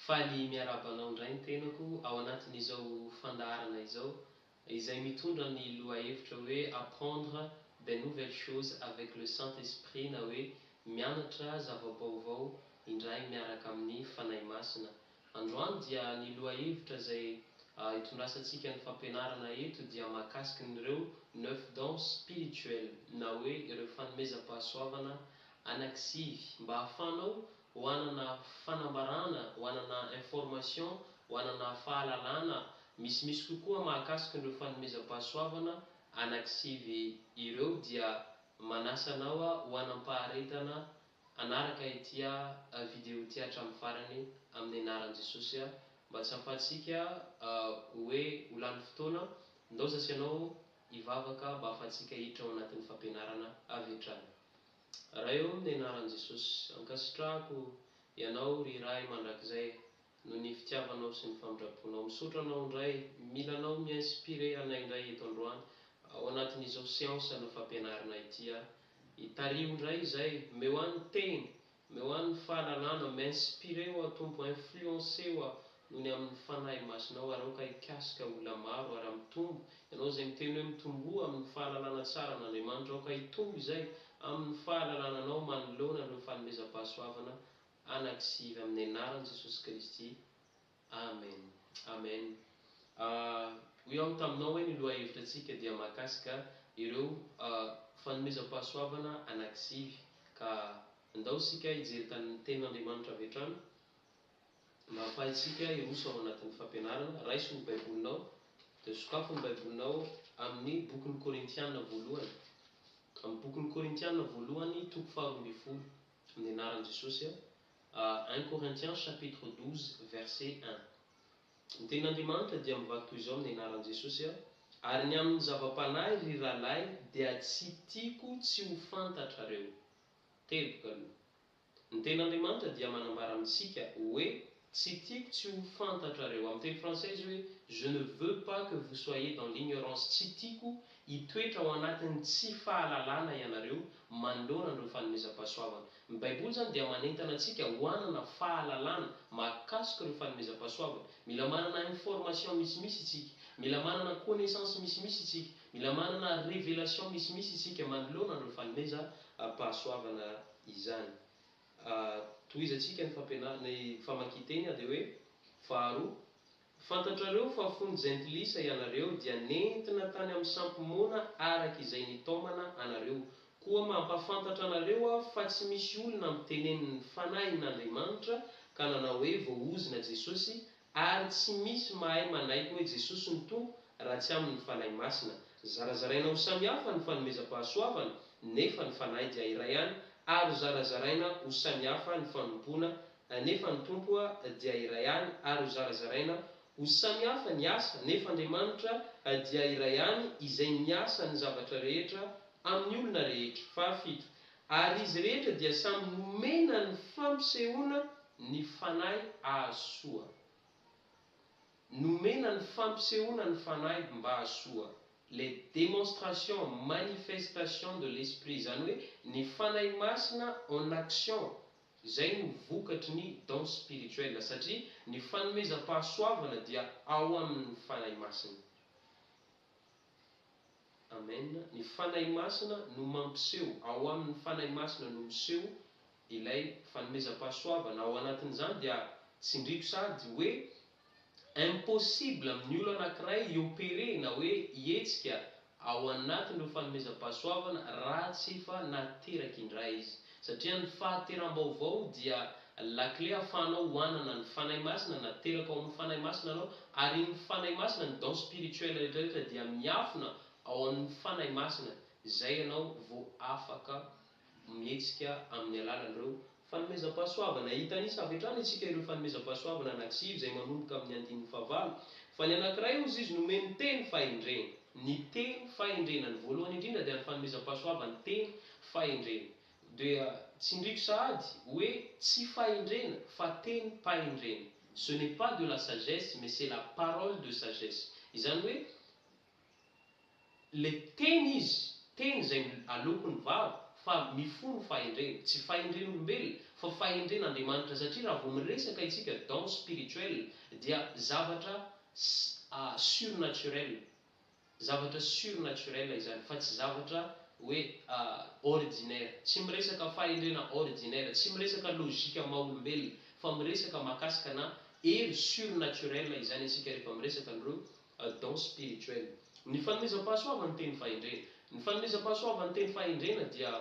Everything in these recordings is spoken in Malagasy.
Faly miarahaba anao indray ny tenako ao anatin'izao fandaharana izao izay mitondra ny lohahevitra hoe Apprendre des nouvelles choses avec le Saint Esprit na hoe Mianatra zava-baovao indray miaraka amin'ny Fanahy Masina. Androany dia ny lohahevitra izay hitondrasantsika ny fampianarana eto dia mahakasiky ny ireo neuf dons spirituels na hoe ireo fanomezam-pahasoavana anaky sivy mba hahafahanao ho hanana fanambarana, ho hanana information, ho hanana fahalalana misimisy kokoa mahakasiky ireo fanomezam-pahasoavana anaky sivy ireo dia manasa anao ho hanam-paharetana Hanaraka ity a video ity hatramin'ny farany amin'ny anaran'i Jesosy a mba tsy hahafahantsika hoe ho lany fotoana, ndao zasy ianao hivavaka mba hahafahantsika hiditra ao anatin'ny fampianarana avy hatrany. Ray ô amin'ny anaran'i Jesosy, ankasitrahako Ianao ry Ray mandrakizay noho ny fitiavanao sy ny famindramponao. Misaotra Anao indray, mila Anao mi-inspirer anay indray eto androany ao anatin'izao seance-na fampianarana ity aho Itariho ndray izay, omeo ahy ny teny, omeo ahy ny fahalalana, m'inspirer ho'a Tompo, influencer ho'a noho ny amin'ny Fanahy Masinao ary aoka hikasika olona maro ary hampitombo, ianao izay miteny hoe mitomboa amin'ny fahalalana tsara an'Andriamanitra, aoka hitombo izay amin'ny fahalalana Anao manoloana ireo fanomezam-pahasoavana anankisivy amin'ny anaran'i Jesosy Kristy, Amen Amen ah hoy aho taminao hoe ny lohahevitra tsika dia mahakasika ireo ah fanomezam-pahasoavana anakisivy ka ndao sika hijery tany tenin' Andriamanitra avy hatrany mba hafahaitsika hiroso ao anatin'ny fampianarana raiso ny baibolinao dia sokafo ny baibolinao amin'ny bokin'ny korintiana voalohany amin'ny bokin'ny korintiana voalohany toko faharoa ambin'ny folo amin'ny anaran'i Jesosy ah Un Corinthiens chapitre 12 verset un Ny tenin'Andriamanitra dia mivaky toy izao amin'ny anaran'i Jesosy a Ary ny amin'ny zava-panahy ry rahalahy dia tsy tiako tsy ho fantatrareo Teboka aloha Ny tenin'Andriamanitra dia manambara amintsika hoe tsy tiako tsy ho fantatrareo Amin'ny teny frantsay izy hoe Je ne veux pas que vous soyez dans l'ignorance Tsy tiako Hitoetra ao anatin'ny tsy fahalalana ianareo manoloana an'ireo fanomezam-pahasoavana. Ny Baiboly izany dia manentana antsika ho hanana fahalalana mahakasika ireo fanomezam-pahasoavana. Mila manana information misimisy isika. Mila manana connaissance misimisy isika. Mila manana révélation misimisy isika manoloana an'ireo fanomezam-pahasoavana izany. Tohizantsika ny fampianarana, ny famakian-teny dia hoe, faharoa, Ho fantatrareo fa fony jentilisa ianareo dia nentina tany amin'ny sampy moana araka izay nitaomana anareo. Koa mampafantatra anareo aho fa tsy misy olona mitenen'ny Fanahin'Andriamanitra ka nanao hoe voaozona Jesosy, ary tsy misy mahay manaiky hoe Jesosy no Tompo raha tsy amin'ny Fanahy Masina. Zarazaraina ho samihafa ny fanomezam-pahasoavana, nefa ny Fanahy dia iray ihany, ary zarazaraina ho samihafa ny fanompoana Anefa ny Tompo dia iray ihany ary hozarazaraina ho samy hafa ny asa, nefa Andriamanitra dia iray ihany izay miasa ny zavatra rehetra amin'ny olona rehetra. Fahafito, ary izy rehetra dia samy nomena ny fampisehoana ny Fanahy hahasoa. Nomena ny fampisehoana ny Fanahy mba hahasoa, les démonstrations, manifestations de l'Esprit, izany hoe ny Fanahy Masina en action Izay no vokatry ny dons spirituels, satria ny fanomezam-pahasoavana dia ao amin' ny Fanahy Masina. Amen. Ny Fanahy Masina no mampiseho, ao amin' ny Fanahy Masina no miseho ilay fanomezam-pahasoavana, ao anatin' izany dia tsindriko sady hoe Impossible amin'ny olona anankiray i-opérer na hoe ihetsika ao anatin'ireo fanomezam-pahasoavana raha tsy efa nateraka indray izy. Satria ny fahateram-baovao dia lakile ahafahanao hohanana ny Fanahy Masina nateraka ao amin'ny Fanahy Masina anao ary iny Fanahy Masina, ny don spirituel rehetrarehetra dia miafina ao amin'ny Fanahy Masina izay ianao vao afaka mihetsika amin'ny alalan'ireo fanomezam-pahasoavana. Hita an'isa avy hatrany isika ireo fanomezam-pahasoavana anankisivy izay manomboka amin'ny andininy fahavalo, fa ny anankiray hozy izy nomeny teny fahendrena. Ny teny fahendrena, ny voalohany indrindra dia ny fanomezam-pahasoavan'ny teny fahendrena. Dia tsindriko sahady hoe tsy fahendrena fa tenim-pahendrena. Ce n'est pas de la sagesse mais c'est la parole de sagesse. Izany hoe. Le teny izy, teny izay aloako ny vava fa mifono fahendrena, tsy fahendren'olombelona fa fahendren'Andriamanitra satria raha vao miresaka isika dans spirituel dia zavatra surnaturel, zavatra surnaturel izany fa tsy zavatra hoe ordinaire, tsy miresaka fahendrena ordinaire, tsy miresaka logique maha olombelona fa miresaka mahakasika na hery surnaturel izany isika rehefa miresaka an'ireo a don spirituel. Ny fanomezam-pahasoavan'ny teny fahendrena. Ny fanomezam-pahasoavan'ny teny fahendrena dia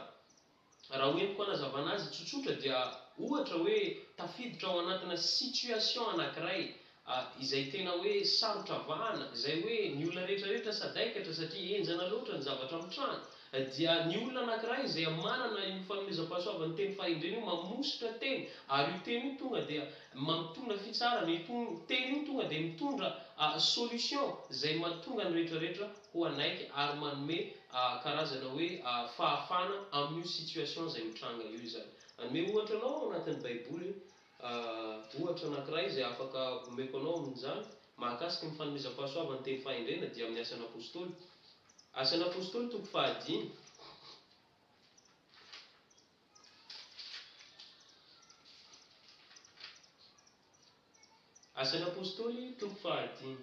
raha ho entiko hanazavana azy tsotsotra dia ohatra hoe tafiditra ao anatina situation anankiray izay tena hoe sarotra vahana, izay hoe ny olona rehetra rehetra sadaikatra satria henjana loatra ny zavatra mitranga, dia ny olona anankiray izay manana io fanomezam-pahasoavan'ny teny fahendrena io mamositra teny ary io teny io tonga dia mampitona fitsarana, io teny io tonga dia mitondra solution izay mahatonga ny rehetrarehetra ho hanaiky ary manome karazana hoe fahafana amin'io situation izay mitranga io izany. Hanome ohatra anao ao anatin'ny baiboly A Ohatra anankiray izay afaka omeko anao amin' izany mahakasika ny fanomezam-pahasoavan' ny teny fahendrena dia amin' ny Asan' ny Apôstôly. Asan' ny Apôstôly toko fahadimy. Asan' ny Apôstôly toko fahadimy.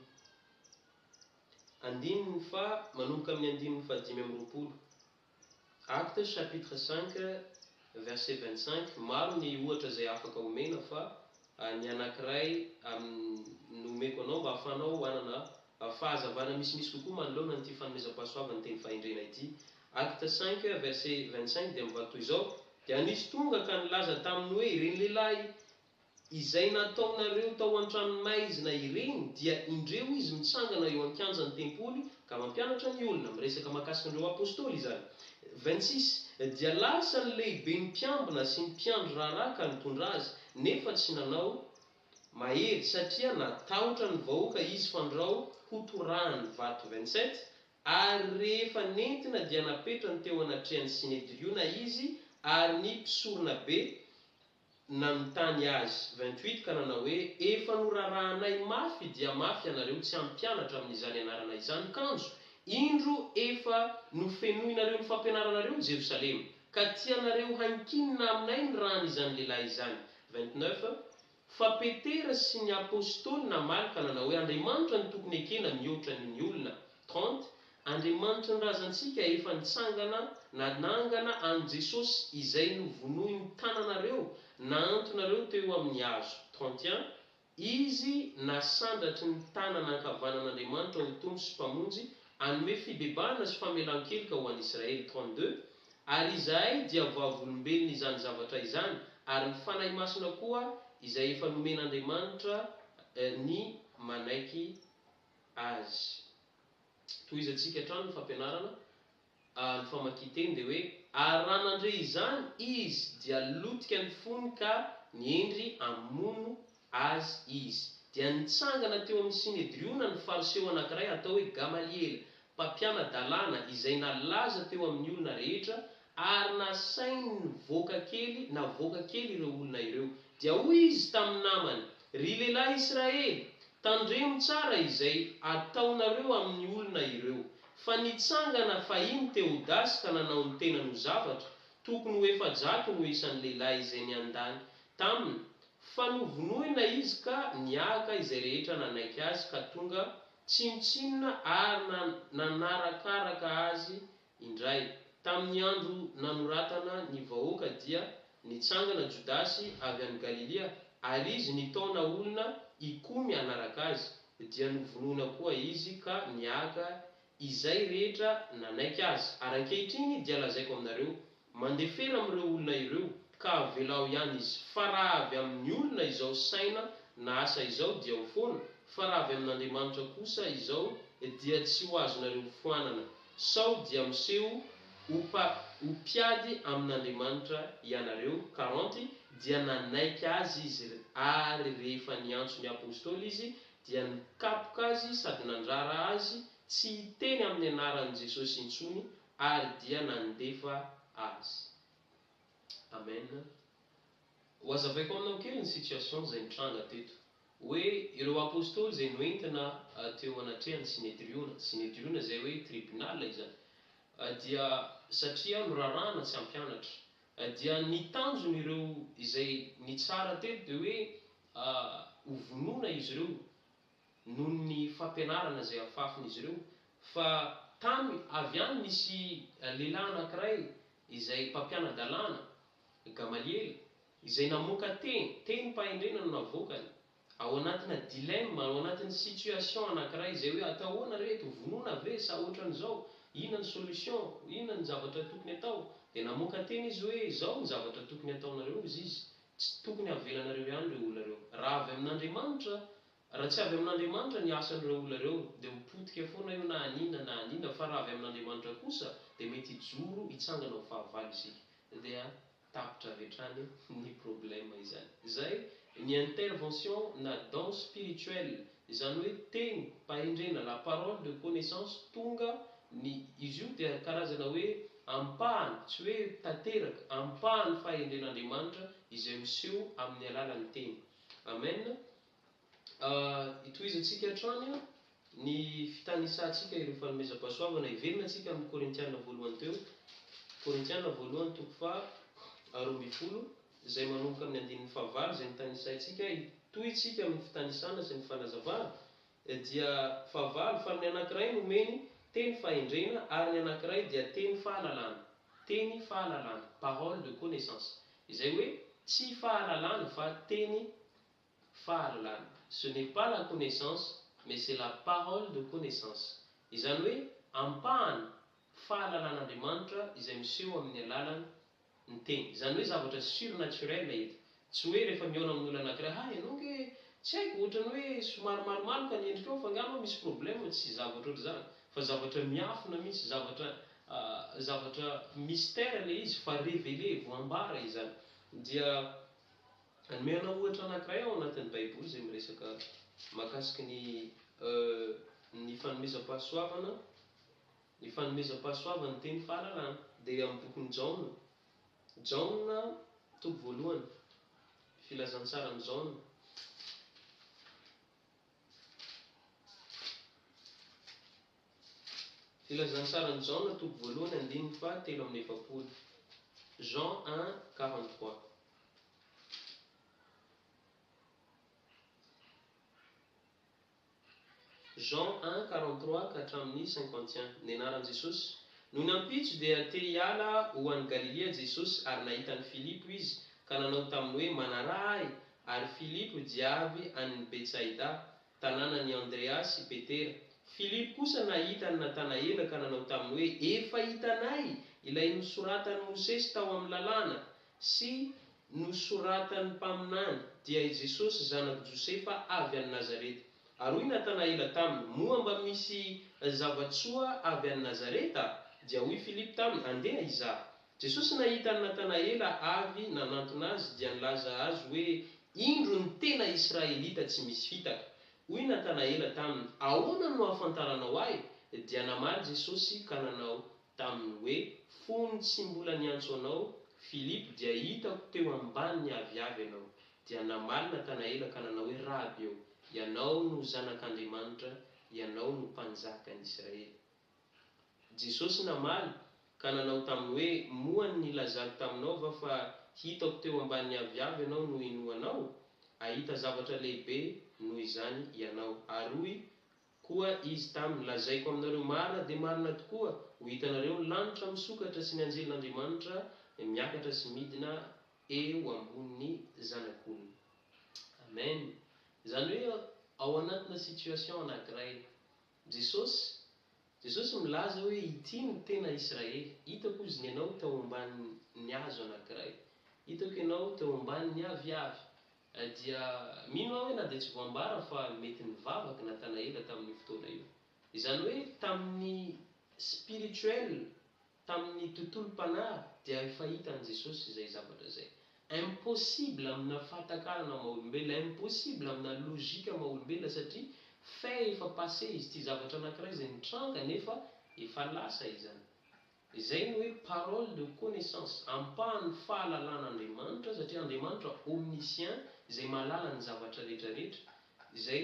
Andininy faha manomboka amin' ny andininy fahadimy amby roapolo. Actes chapitre cinq verset vingt cinq, maro ny ohatra izay afaka omena fa ny anankiray amin no omeko anao mba ahafahanao hanana fahazavana misimisy kokoa manoloana an'ity fanomezam-pahasoavan'ny teny fahendrena ity. Actes cinq verset vingt cinq dia mivaky toy izao, Dia nisy tonga ka nilaza taminy hoe, Ireny lehilahy Izay nataonareo tao an-tranomaizina ireny dia indreo izy mitsangana eo an-kianjan'ny tempoly ka mampianatra ny olona, miresaka mahakasika an'ireo apostoly izany. Vingt six, Dia lasa ny lehiben'ny mpiambina sy ny mpiandry raharaha ka nitondra azy, nefa tsy nanao mahery satria natahotra ny vahoaka izy fandrao ho torahan'ny vato Vingt sept, Ary rehefa nentina dia napetrany teo anatrehan'ny Synedriona izy ary ny mpisoronabe nanontany azy, vingt-huit, ka nanao hoe, Efa norarahanay mafy dia mafy ianareo tsy ampy mpianatra amin'izany anarana izany, kanjo, indro efa nofenoinareo ny fampianaranareo ny Jerosalema, ka tianareo hankinina aminay ny ràn'izany lehilahy izany, vingt-neuf, Fa Petera sy ny Apostoly namaly ka nanao hoe, Andriamanitra no tokony ekena mihoatra an'io ny olona, trente, Andriamanitry ny razantsika efa nitsangana nanangana an'i Jesosy izay novonoin'ny tananareo nahantonareo teo amin'ny hazo, 31 Izy nasandratry ny tanana ankavanan'Andriamanitra ho Tompo sy Mpamonjy hanome fibebahana sy famelan-keloka ho an'i Israely, 32 Ary izahay dia vavolombelon' izany zavatra izany, ary ny Fanahy Masina koa izay efa nomen'Andriamanitra ny manaiky Azy. Tohizantsika hatrany ny fampianarana, a ny famakian-teny dia hoe, Ary raha nandre izany izy, dia lotika ny fony ka niendry hamono Azy izy. Dia nitsangana teo amin'ny Synedriona ny Fariseo anankiray atao hoe Gamaliela, mpampiana-dalàna, izay nalaza teo amin'ny olona rehetra Ary nasainy nivoaka kely navoaka kely ireo olona ireo. Dia hoy izy tamin'ny namany, Ry lehilahy Israely, tandremo tsara izay ataonareo amin'ny olona ireo, fa nitsangana fahiny Tehodasy ka nanao ny tenany ho zavatra, tokony ho efajato no isan'ny lehilahy izay niandany taminy, fa novonoina izy ka niahaka izay rehetra nanaiky azy ka tonga tsinontsinona ary nanarakaraka azy Indray, tamin'ny andro nanoratana ny vahoaka dia nitsangana Jodasy avy any Galilia, ary izy nitaona olona hikomy hanaraka azy, dia novonoina koa izy ka niaga izay rehetra nanaiky azy. Ary ankehitriny dia lazaiko aminareo, Mandefera amin'ireo olona ireo ka avelao ihany izy fa raha avy amin'ny olona izao saina na asa izao dia ao foana fa raha avy amin'Andriamanitra kosa izao dia tsy ho azonareo foanana sao dia miseho ho pa ho mpiady amin'Andriamanitra ianareo karanty dia nanaiky azy izy ary rehefa niantso ny Apostoly izy dia nikapoka azy sady nandrara azy tsy hiteny amin'ny anaran'i Jesosy intsony ary dia nandefa azy. Amen. Ho azavaiko aminao kely ny situation izay nitranga teto. Hoe ireo Apostoly izay noentina teo anatrehan'ny Synedriona, Synedriona izay hoe tribunal izany, dia satria norarahana tsy hampianatra. Dia ny tanjon'ireo izay nitsara teto dia hoe ho vonoina izy ireo. noho ny fampianarana izay afafin'izy ireo fa tany avy any nisy lehilahy anankiray izay mpampiana-dalàna, Gamaliela, izay namoaka teny, tenim-pahendrena no navoakany, ao anatina dilemme, ao anatin'ny situation anankiray izay hoe atao ahoana re eto, vonoina ve sa ohatran'izao, inona ny solution, inona ny zavatra tokony atao, dia namoaka teny izy hoe izao ny zavatra tokony ataonareo, hoy izy, Tsy tokony havelanareo ihany ireo olona ireo. Raha avy amin'Andriamanitra, raha tsy avy amin'Andriamanitra ny asan'ireo olona ireo, dia ho potika foana io na an'inona na an'inona, fa raha avy amin'Andriamanitra kosa, dia mety hijoro hitsangana ho fahavalo isika. Dia tapitra avy hatrany ny problème izany. Izay ny intervention na don spirituel Izany hoe teny, pahendrena, la parole de connaissance, tonga ny izy io dia karazana hoe ampahany, tsy hoe tanteraka, ampahan'ny fahendren'Andriamanitra izay miseho amin'ny alalan'ny teny. Amen. Itohizantsika hatrany ny fitanisantsika ireo fanomezam-pahasoavana heverina antsika amin'ny Korintiana voalohany teo, Korintiana voalohany toko faha roa ambin'ny folo, izay manomboka amin'ny andininy fahavalo izay nitanisaintsika ay, toy isika amin'ny fitanisana sy ny fanazavana, dia fahavalo, fa ny anankiray nomeny teny fahendrena ary ny anankiray dia teny fahalalana, teny fahalalana, parole de connaissance, izay hoe tsy fahalalana fa teny fahalalana, ce n'est pas la connaissance mais c'est la parole de connaissance, izany hoe ampahany fahalalan'Andriamanitra izay miseho amin'ny alalan'ny. ny teny. Izany hoe zavatra surnaturel eto. Tsy hoe rehefa mihaona amin'olona anankiray, ha ianao ange tsy haiko, ohatran'ny hoe somary malomaloka ny endrikao fa angamba misy problème, tsy zavatra ohatr'izany. Fa zavatra miafina mihitsy, zavatra zavatra mystère ilay izy fa révélé, voambara izany. Dia hanome anao ohatra anankiray ao anatin'ny baiboly izay miresaka mahakasiky ny ny fanomezam-pahasoavana, Ny fanomezam-pahasoavana ny teny fahalalana dia amin'ny bokin'i Jaona, Jaona, toko voalohany, Filazantsaran'i Jaona, Filazantsaran'i Jaona, toko voalohany, andininy faha telo amby efapolo, Jean un, quarante trois. Jean un, quarante trois ka hatramin'ny cinquante et un. Nianaran'i Jesosy. Noho ny ampitso dia te hiala ho any Galilia Jesosy ary nahita an'i Filipo Izy ka nanao taminy hoe, Manaraha Ahy! Ary Filipo dia avy any Betsaida, tanànan'i Andrea sy Petera. Filipo kosa nahita an'i Natanaela ka nanao taminy hoe, Efa hitanay Ilay nosoratan'i Mosesy tao amin'ny Lalàna, sy. Nosoratan'ny mpaminany, dia i Jesosy zanak'i Josefa avy any Nazareta. Ary hoy Natanaela taminy, Moa mba misy zava-tsoa avy any Nazareta? Dia hoy Filipo taminy, Andeha hizaha. Jesosy nahita an'i Natanaela avy nanantona azy, dia nilaza azy hoe, Indro ny tena Israelita tsy misy fitaka. Hoy Natanaela taminy, Ahoana no ahafantaranao ahy? Dia namaly Jesosy ka nanao Tamin'ny hoe, Fony tsy mbola niantso anao, Filipo, dia hitako teo ambany ny aviavy ianao, dia namaly Natanaela ka nanao hoe, Raby ô, ianao no Zanak' Andriamanitra, ianao no Mpanjaka ny Israely. Jesosy namaly, ka nanao taminy hoe, Moa ny nilazako taminao va fa hitako teo ambany ny aviavy ianao no inoanao? Hahita zavatra lehibe noho izany ianao. Ary hoy. Koa Izy taminy, Lazaiko aminareo, marina dia marina tokoa, ho hitanareo ny lanitra misokatra sy ny anjelin'Andriamanitra miakatra sy midina eo ambonin'ny Zanak'olona. Amen! Izany hoe ao anatina situation anankiray. Jesosy, Jesosy milaza hoe ity no tena Israely. Hitako Izy nenao tao ambanin'ny hazo anankiray. Hitako ianao teo ambanin'ny aviavy. Eh dia mino aho hoe na dia tsy voambara fa mety nivavaka Natanaela tamin'io fotoana io. Izany hoe tamin'ny spirituel, tamin'ny tontolom-panahy dia efa hita an'i Jesosy izay zavatra izay. Impossible amina fahatakarana maha olombelona, impossible amina logique maha olombelona satria fait efa passé izy ity, zavatra anankiray izay nitranga nefa efa lasa izany. Izay no hoe parole de connaissance, ampahan'ny fahalalan'Andriamanitra, satria Andriamanitra omniscient, izay mahalala ny zavatra rehetra rehetra, izay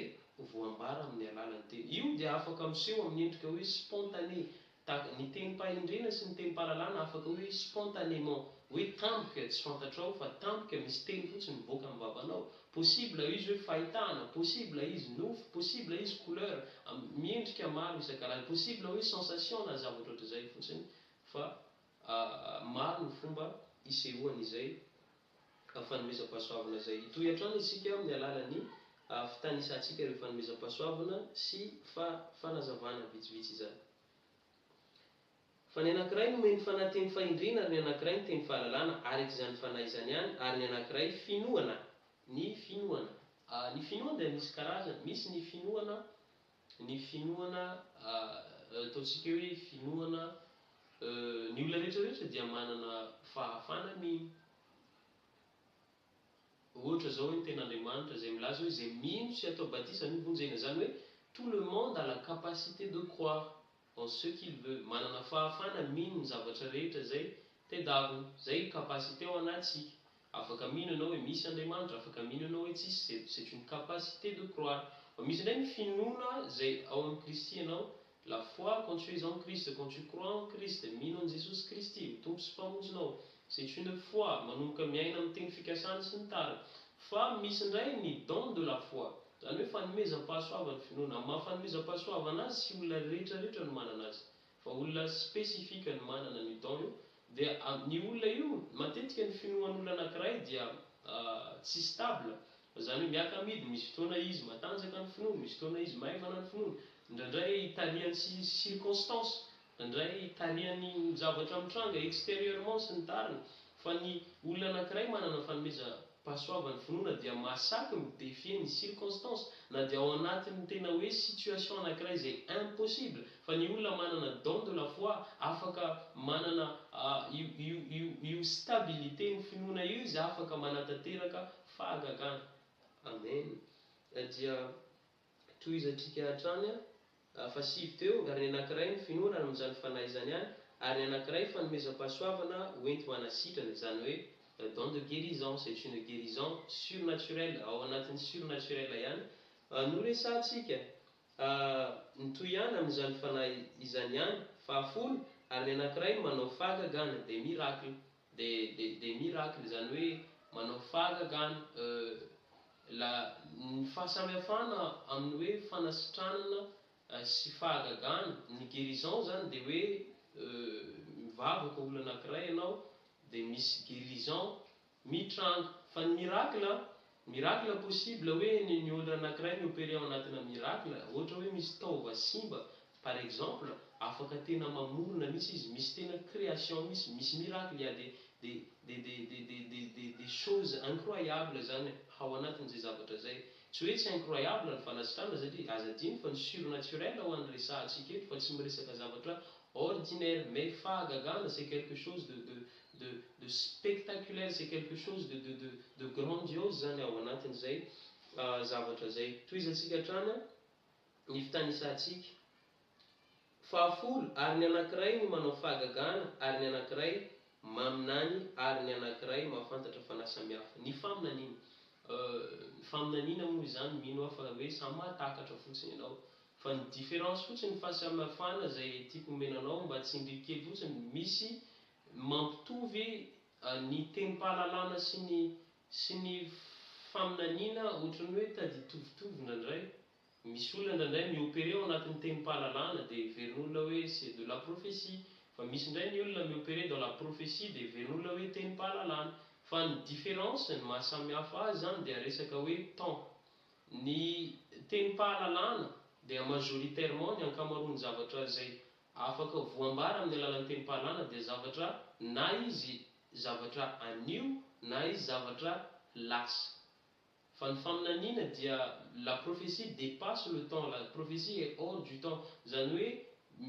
voambara amin'ny alalan'ny teny. Io dia afaka miseho amin'ny endrika hoe spontané, tahaka ny tenim-pahendrena sy ny tenim-pahalalana afaka hoe spontanément, hoe tampoka tsy fantatrao fa tampoka misy teny fotsiny mivoaka amin'ny vavanao, Possible izy hoe fahitana, possible izy nofo, possible izy couleur, miendrika maro isan-karazany, possible hoe sensation na zavatra ohatr'izay fotsiny fa maro ny fomba isehoany izay fanomezam-pahasoavana izay. Hitohy hatrany isika amin'ny alalan'ny fitanisantsika ireo fanomezam-pahasoavana sy fanazavana vitsivitsy izany. Fa ny anankiray nomeny ny fanahy teny fahendrena ary ny anankiray ny teny fahalalana araka izany fanahy izany ihany ary ny anankiray finoana. Ny finoana. Ny finoana dia misy karazany, misy ny finoana, ny finoana, ataontsika hoe finoana, ny olona rehetra rehetra dia manana fahafana mino. Ohatra izao hoe ny tenin'Andriamanitra izay milaza hoe izay mino sy atao batisa no vonjena, izany hoe tout le monde a la capacité de croire, en ce qu'il veut, manana fahafana mino ny zavatra rehetra izay tedavina, izay io capacité ao anatsika, afaka mino ianao hoe misy Andriamanitra, afaka mino ianao hoe tsisy, c'est c'est une capacité de croire, fa misy indray ny finoana izay ao amin'i Kristy ianao, la foi quand tu es en Christ, quand tu crois en Christ, mino an'i Jesosy Kristy ho Tompo sy Mpamonjinao, c'est une foi, manomboka miaina amin'ny teny fikasany sy ny tariny, fa misy indray ny don de la foi, Izany hoe fanomezam-pahasoavana finoana. Amin'ny maha fanomezam-pahasoavana azy sy olona rehetra rehetra no manana azy. Fa olona spécifique no manana an'io don io. Dia amin'io olona io, matetika ny finoan'olona anankiray dia tsy stable. Izany hoe miaka-midiny, misy fotoana izy matanjaka ny finoany, misy fotoana izy maivana ny finoany. Indraindray tarihan'ny circonstances Indray tarihan'ny zavatra mitranga exterieurement sy ny tariny, fa ny olona anankiray manana fanomezam-pahasoavan'ny finoana dia mahasaky mi-defier ny circonstances, na dia ao anatin'ny tena hoe situation anankiray izay impossible, fa ny olona manana don de la foi, afaka manana io io io io stabilité ny finoana io izy afaka manatanteraka fahagagana. Amen dia tohizatrika hatrany Tafasivy teo, ary ny anankiray ny finoana any amin'izany fanahy izany ihany, ary ny anankiray fanomezam-pahasoavana hoenti-manasitrana, izany hoe don de guérison, c'est une guérison surnaturelle, ao anatin'ny surnaturelle ihany no resahantsika, mitohy ihany amin'izany fanahy izany ihany, fahafolo, ary ny anankiray manao fahagagana, des miracles. De de de miracle zany hoe manao fahagagana euh la ny fahasamihafana amin'ny hoe fanasitranana sy fahagagana ny guerison zany de hoe euh mivavaka olona anakiray ianao de misy guerison mitranga fa ny miracle a Miracle impossible hoe ny ny olona anakiray mi opere ao anatina miracle ohatra hoe misy taova simba par exemple afaka tena mamorona misy izy misy tena creation misy misy miracle ya de de de de de de de de de choses incroyable zany hao anatiny zay zavatra zay tsy hoe tsy incroyable ny fanasitrana satria aza adino fa ny surnaturel ho any resahantsika eto fa tsy miresaka zavatra ordinaire mais fahagagana c'est quelque chose de de de de spectaculaire c'est quelque chose de de de de grandiose zany ao anatin'izay zavatra zay tohizantsika hatrany an ny fitanisantsika fahafolo ary ny anankiray ny manao fahagagana ary ny anankiray maminany ary ny anankiray mahafantatra fanahy samihafa ny faminaniana euh ny faminaniana moa izany mino aho fa hoe samy mahatakatra fotsiny ianao Fa ny différence fotsiny fa samy hafana izay tiako omena anao mba tsindriako kely fotsiny misy mampitovy ny tenim-pahalalana sy ny sy ny faminaniana ohatran'ny hoe taditovitovo indraindray misy olona indraindray mi-operer ao anatin'ny tenim-pahalalana dia heverin'olona hoe c'est de la prophetie fa misy indray ny olona mi-operer dans la prophetie dia heverin'olona hoe tenim-pahalalana fa ny différence ny maha samy hafa azy izany dia resaka hoe temps Ny tenim-pahalalana dia majoritairement ny ankamaroan'ny zavatra izay afaka voambara amin'ny alalan'ny tenim-pahalana dia zavatra na izy zavatra anio na izy zavatra lasa. Fa ny faminaniana dia la prophetie depasse le temps, la prophetie est hors du temps, izany hoe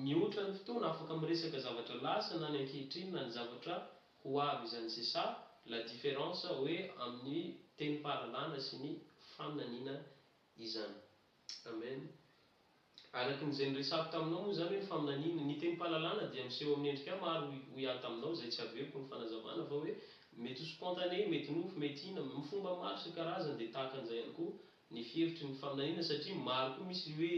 mihoatra ny fotoana afaka miresaka zavatra lasa na ny ankehitriny na ny zavatra Ho avy izany c'est ça la difference hoe amin'ny tenim-pahalalana sy ny faminaniana izany. Amen. Araka ny izay niresako taminao moa izany hoe ny faminaniana, ny tenim-pahalalana dia miseho amin'ny endrika maro hoy hoy aho taminao izay tsy averiko ny fanazavana fa hoe mety ho spontané, mety nofy, mety ina, amin'ny fomba maro isan-karazany dia tahaka an'izay ihany koa ny hevitry ny faminaniana satria maro koa misy le hoe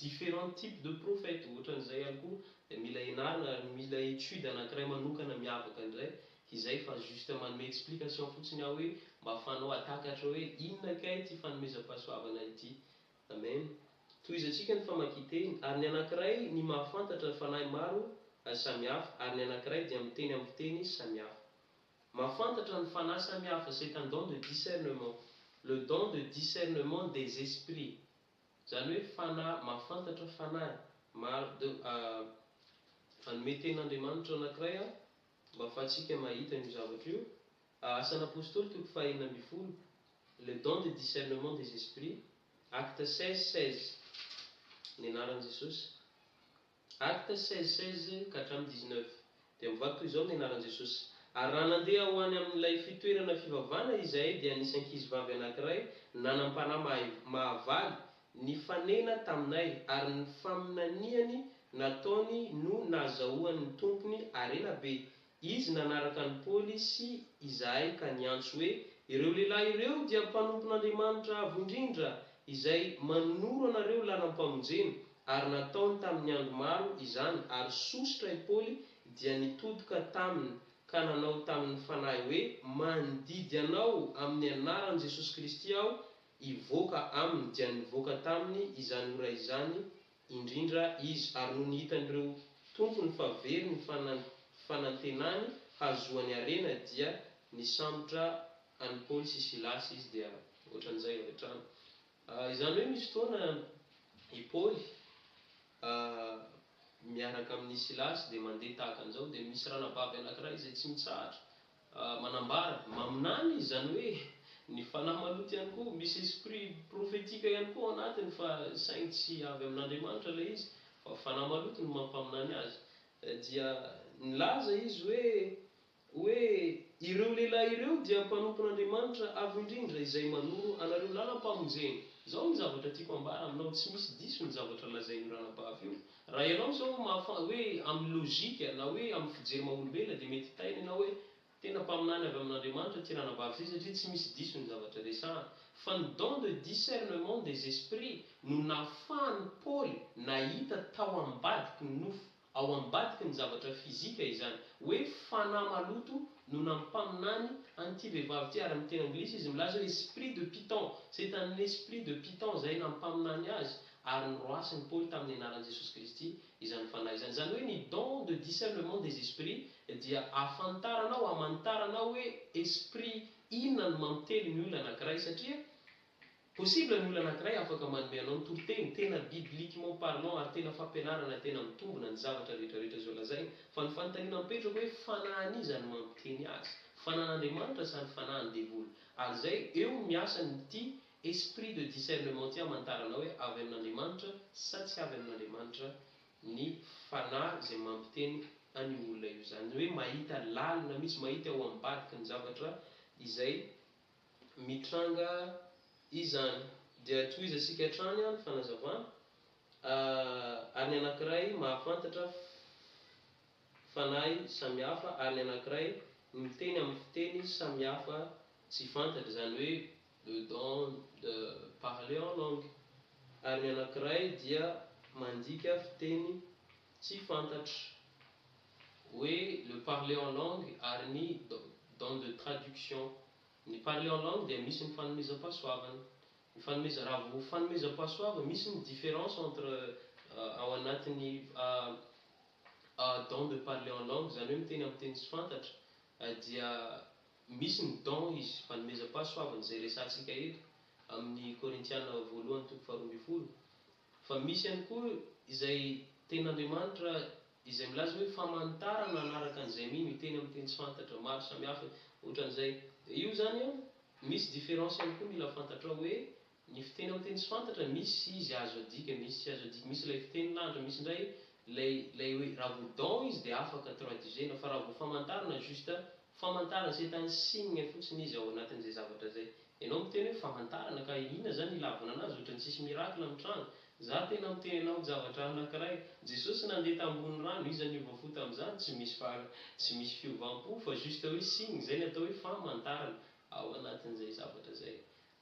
different type de prophète ohatran'izay ihany koa dia mila ianarana ary mila étude anankiray manokana miavaka indray izay fa juste manome explication fotsiny aho hoe mba afahanao atakatra hoe inona kay ity fanomezam-pahasoavana ity Amen Tohizantsika ny famakian-teny ary ny anankiray ny mahafantatra fanahy maro samihafa ary ny anankiray dia miteny amin'ny fiteny samihafa Mahafantatra ny fanahy samihafa c'est un don de discernement, le don de discernement des esprits, izany hoe fanahy mahafantatra fanahy maro de hanome tenin'Andriamanitra anankiray aho mba afahantsika mahita an'io zavatra io, Asan'ny Apostoly toko fahenina ambin'ny folo, le don de discernement des esprits, acte seize seize, ny anaran'i Jesosy. Actes seize, seize ka hatramin'ny dix neuf. Dia mivaky toy izao ny anaran'i Jesosy, Ary raha nandeha ho any amin'ilay fitoerana fivavahana izahay, dia nisy ankizivavy anankiray nanam-panahy mahay mahavaly nifanena taminay, ary ny faminaniany nataony no nahazahoany ny tompony harena be, Izy nanaraka an'i Paoly sy izahay ka niantso hoe, Ireo lehilahy ireo dia mpanompon'Andriamanitra Avo Indrindra, izay manoro anareo lalam-pamonjena. Ary nataony tamin'ny andro maro izany, ary sosotra i Paoly dia nitodika taminy ka nanao tamin'ny fanahy hoe, Mandidy anao amin'ny anaran'i Jesosy Kristy aho, hivoaka aminy. Dia nivoaka taminy izany ora izany indrindra izy, ary nony hitan'ireo tompony fa very ny fanantenany hahazoany harena dia nisambotra an'i Paoly sy Silasy izy dia ohatran'izay avy hatrany. Izany hoe misy fotoana i Paoly miaraka amin'i Silasy dia mandeha tahaka an'izao dia misy ranabavy anankiray izay tsy mitsahatra manambara, maminany, izany hoe ny fanahy maloto ihany koa, misy esprit prophetique ihany koa ao anatiny fa saingy tsy avy amin'Andriamanitra ilay izy fa fanahy maloto no mampaminany azy, dia nilaza izy hoe, hoe ireo lehilahy ireo dia mpanompon'Andriamanitra Avo Indrindra izay manoro anareo lalam-pamonjena. Izao ny zavatra tiako ambara aminao, tsy misy diso ny zavatra lazain'io ranabavy io, Raha ianao izao mahafa, hoe amin'ny lojika, na hoe amin'ny fijery maha-olombelona, dia mety hitaina ianao hoe, Tena mpaminany avy amin'Andriamanitra ity ranabavy ity satria tsy misy diso ny zavatra resahany. Fa ny don de discernement des esprits no nahafahan'i Paoly nahita tao ambadiky ny nofo, ao ambadiky ny zavatra fizika izany, hoe fanahy maloto no nampaminany an'ity vehivavy ity, ary amin'ny teny anglisy izy milaza hoe esprit de Python, Satanin'esprit de Python izay nampaminany azy, ary niroahasin' ny Paoly tamin' ny anaran' i Jesosy Kristy izany fanahy izany. Izany hoe ny don de discernement des esprits dia ahafantara nao, hamantara nao hoe esprit inona no mampiteny ny olona anankiray satria possible ny olona anankiray afaka manome anao ny toriteny tena bibliquement parlant ary tena fampianarana tena mitombina ny zavatra rehetra rehetra izao lazaina fa ny fanontaniana mipetraka hoe fanahin' iza no mampiteny azy? Fanahin' Andriamanitra sa ny fanahin' ny devoly? Ary izay eo no miasa ny ity Esprit de discernement ity hamantarana hoe avy amin'Andriamanitra sa tsy avy amin'Andriamanitra ny Fanahy izay mampiteny an'io olona io. Izany hoe mahita lalina mihitsy, mahita eo ambadiky ny zavatra izay mitranga izany. Dia tohizantsika hatrany ny fanazavana, Ary ny anankiray mahafantatra fanahy samihafa, ary ny anankiray miteny amin'ny fiteny samihafa tsy fantatra. Izany hoe le don de parler en langue, ary ny anankiray dia mandika fiteny tsy fantatra, hoe le parler en langue ary ny don de traduction. Ny parler en langue dia misy ny fanomezam-pahasoavana, ny fanomeza, raha vao fanomezam-pahasoavana, misy ny différence entre ao anatin'ny don de parler en langue, izany hoe miteny amin'ny teny tsy fantatra, dia Misy ny don izy fanomezam-pahasoavana izay resahantsika eto amin'ny Korintiana voalohany toko faharoa ambin'ny folo. Fa misy ihany koa izay tenin'Andriamanitra izay milaza hoe famanitarana hanaraka an'izay mino, hiteny amin'ny teny tsy fantatra, maro samihafa, ohatran'izay. Dia io izany an, misy différence ihany koa mila fantatrao hoe Ny fiteny amin'ny teny tsy fantatra, misy izy azo adika, misy tsy azo adika. Misy ilay fiteny lanitra, misy indray ilay ilay hoe raha vao dans izy dia afaka traduisena fa raha vao famantarana juste famantarana c'est un signe fotsiny izy ao anatin'izay zavatra izay. Ianao miteny hoe famantarana ka inona izany ilavana anazy ohatran'ny tsisy miracle mitranga. Za tena miteny anao javatra anakiray, Jesosy nandeha tambony rano, iza niova fo tamin'izany? Tsy misy fa tsy misy fiovam-po fa juste hoe signe, izay ny atao hoe famantarana ao anatin'izay zavatra izay.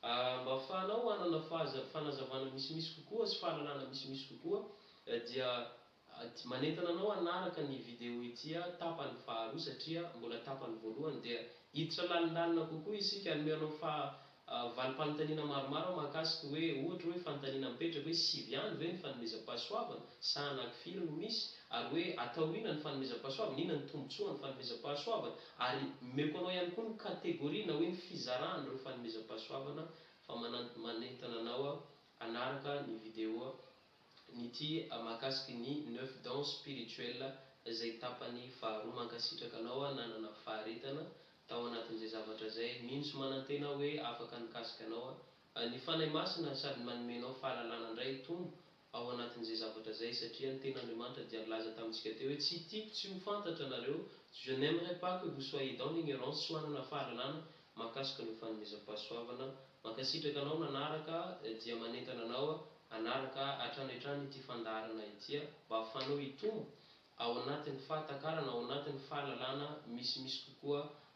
A Mba hafahanao hanana fahaza fanazavana misimisy kokoa sy fahalalana misimisy kokoa dia a manentana anao hanaraka ny video ity a tapany faharoa satria mbola tapany voalohany dia hiditra lalindalina kokoa isika hanome anao faha a valim-panontaniana maromaro aho mahakasika hoe ohatra hoe fanontaniana mipetraka hoe sivy ihany ve ny fanomezam-pahasoavana sa anakifiry no misy ary hoe atao ina ny fanomezam-pahasoavana inona ny tombotsoan'ny fanomezam-pahasoavana Ary omeko anao ihany koa ny kategoria na hoe ny fizaràn'ireo fanomezam-pahasoavana fa manentana anao hanaraka ny video nity mahakasiky ny neuf dons spirituels izay tapany faharoa. Mankasitraka anao nanana faharetana tao anatin'izay zavatra izay. Mino sy manantena aho hoe afaka nikasika anao ny Fanahy Masina sady manome anao fahalalana indray hitombo ao anatin'izay zavatra izay, satria ny Tenin'Andriamanitra dia nilaza tamintsika teo hoe, Tsy tiako tsy ho fantatra anareo, je n'aimerai pas que vous soyez dans l'ignorance, tsy ho hanana fahalalana mahakasika ny ho fanomezam-pahasoavana. Mankasitraka anao nanaraka aho, dia manentana anao aho hanaraka ahy hatrany hatrany ity fandaharana ity mba hahafahanao hitombo ao anatin'ny fahatakarana, ao anatin'ny fahalalana misimisy kokoa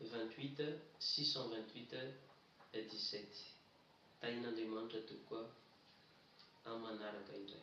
vingt-huit six cent vingt-huit et dix-sept Tahin'Andriamanitra tompoko a! Amin'ny manaraka indray.